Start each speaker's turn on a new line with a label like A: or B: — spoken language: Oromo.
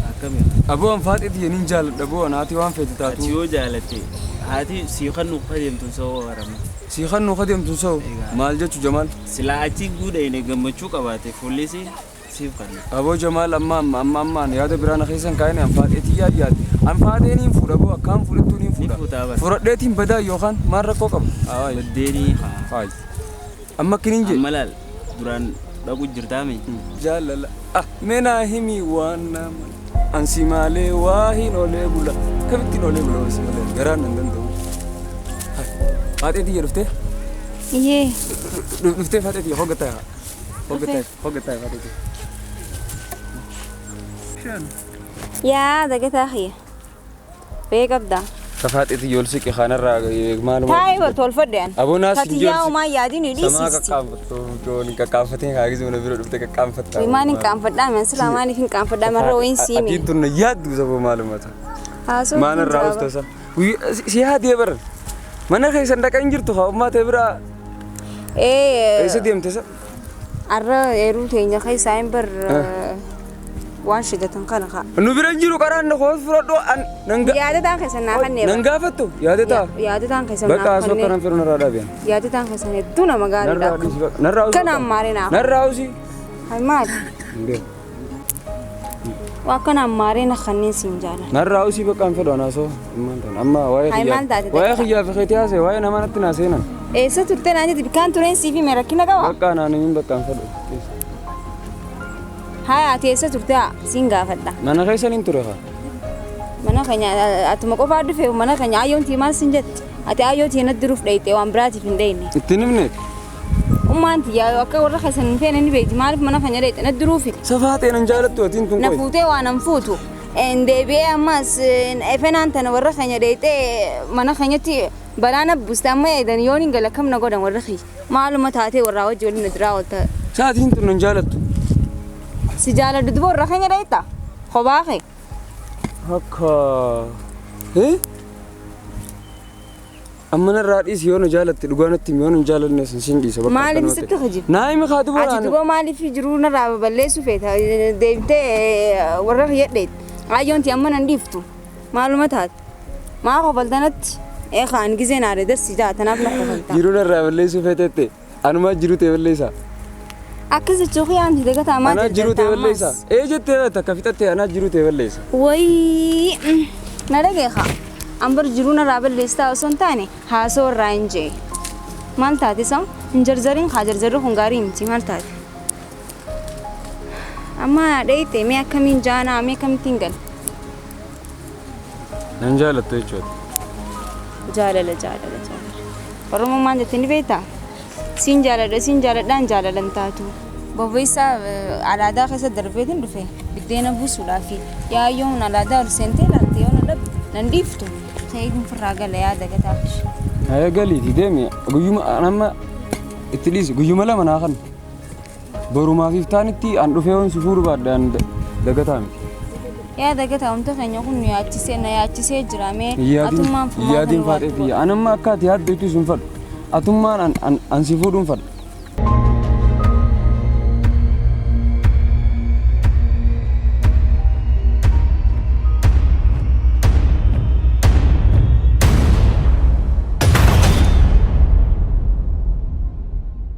A: Akkami haa. Aboo an faaxii
B: tiyya nin jaaladha boo an haati waan feete Ati taatu yoo jaalatte
A: haati sii kannu ka deemtun sa'oo warama. sii kannuu ka deemtun
B: sa'u Egaa. maal jechu jamaal Silaa achi
A: guudhayne gammachuu qabaate fuullisii siif kanna. aboo jamaal amma amma
B: amma amma an yaada biraana keessan kaa'ine an faaxee tiyyaaf yaade an faaxee niin fuudha boo akkaan fudhattuu niin Ni fuutaa fuudha bara. furadheetiin badaa yookaan maal rakkoo qaba Haa, Baddeenii
A: haa. faayi
B: Amma akkin hin jedhu. Amma laal duraan
A: dhaqu jirtaa mee. Jaalala
B: ah mee naa himi waan naa mala. Ansi maalee waa hin olee bula. Kamittiin olee bula wansi malee garaan nan danda'u. Faaxee tiyya dhuftee? Yee.
C: Dhuftee
B: faaxee tiyya hogga ta'a. Hogga ta'a hogga ta'a faaxee tiyya.
C: Yaa dagataa kiyya. Ree qabda. Tafaaxiti yool siqi
B: kanarraa maaluma. Taa'ee bar tolfadhe an.
C: Aboo naas hin Tatiyyaa joolsi.
B: umaa yaadin Samaa
C: hidhiisisti. qaqqaanfattu
B: joon hin qaqqaanfatin haa gizuu na bira dhufte qaqqaanfatta. Wimaan hin qaanfadhaa man
C: silaa maaliif hin qaanfadhaa marra wayiin siime. Atiin tun na yaaddu saboo
B: maaluma ta. Haasoo Maana irraa hin ustasa. Si yaadee bara. Mana keessan dhaqa hin jirtu haa ummaa ta'e biraa. Ee.
C: Eessa deemte sa?
B: Arra
C: eeruu teenya keessaa hin bar waan shidatan kana kaa. Nu bira hin jiru qaraan na
B: koos fudhadhu an nan ga- Yaadataan keessan naa
C: kannee nan gaafattu yaadataa.
B: Yaadataan keessan Bakka naa haasoo
C: kanaan kannee. firu narraa
B: dhaabeen. Yaadataan keessan hedduu
C: nama gaariidha. Narraa dhiisi bakka. Narraa haasoo Kanaan kana.
B: maalee naa.
C: Narraa haasii.
B: Maali?
C: Hin beeku. Waa kana ammaaree na kanneen siin jaalan. Narraa usii bakka hin fedhu
B: anaasoo ammaan tan amma waa'ee Hayi, maal taate kiyyaa waa'ee takka? kiyyaa fi keetii haasee waa'ee namaa natti naa seenan Eessa turte naan
C: jetti bikaan tureen siif hime rakkina qaba. bakka anaan hin bakka hin fedhu Haaya ati eessa turte haa siin gaafadha. mana keessan hin ture kaa
B: Mana
C: keenya a- atuma qofaa dhufe mana keenya ayyoon tii maal siin jette. Ati ayyoo tii natti duruuf dheeyxee waan biraatiif hin dheeyne. ittiin himneet
B: Ummaan
C: tiyyaa yoo akka warra keessan hin feene ni beekti maaliif mana kan jedhee xina duruufi. Safaa ta'e nan jaalattu
B: atiin tun Na qoy. fuutee waan an fuutu.
C: En deebi'ee ammas en efenaan tana warra keenya dheeyxee mana keenyatti balaa na buuste amma eedan yoon hin gala kam na godhan warra kiyya. Maaluma taatee warraa wajji waliin na duraa oolta. Sa'atiin tun nan
B: jaalattu. Si
C: jaaladhu duba warra keenya dheeyxa. Kophaa kee. Akka.
B: Eh? Amma narraa dhiisi yoo na jaalatte dhugaa natti himi yoo na hin jaalanne sin sin dhiisa bakka Maaliif akkanumatti. sitti hojii? Naa
C: himi kaa duboo Ati naan.
B: duboo maaliif jiruu
C: narraa baballeessuu feeta deebitee warra kiyyadheet ayyoonti amma nan dhiiftu maaluma taate maa kofaltanatti eekaan gizee naare darsi jaa tanaaf na kofalta. Jiruu narraa balleessuu
B: feeteette. Anumaa jiruu ta'e balleessaa. Akkas
C: jechuu kee aanti dagataa maal Anaa jiruu ta'e balleessaa.
B: Ee jettee bata akka fixattee anaa jiruu ta'e balleessaa. Wayii
C: mm, na dhageekaa. Ambar jiruu narraa balleessaa osoo hin taane haasoo irraa hin jee. Maal taate soo? Hin jarjariin kaa jarjarri kun gaarii miti maal taate? Amma dheeyte mee akkamiin jaanaa mee akkamittiin gala?
B: Nan jaalattu jechuudha.
C: Jaalala jaalala jaalala. Oromoon maal jettee ni beektaa? Siin jaaladha siin jaaladhaan jaalalan taatu. Bobeessaa eh, alaadaa keessa darbeetiin dhufe biddeena buusuudhaaf yaa yoon alaadaa ol seentee ilaalte yoo na dhabde nan dhiiftu keeyiin firraa gala yaa dagataa fish. Haya galiiti
B: deemi guyyuma amma itti dhiisi guyyuma lama naa kan. Borumaaf iftaanitti an dhufee yoon si fuudhu baadhe an dagataa miti. Yaa
C: dagataa umta keenya kun nu yaachisee na yaachisee jira mee atummaan fumaa kun
B: Yaadiin faadhee waatu. tiyya. An amma akka ati yaaddu jechuus hin fadhu. Atummaan an- an- an si fuudhu hin fadhu.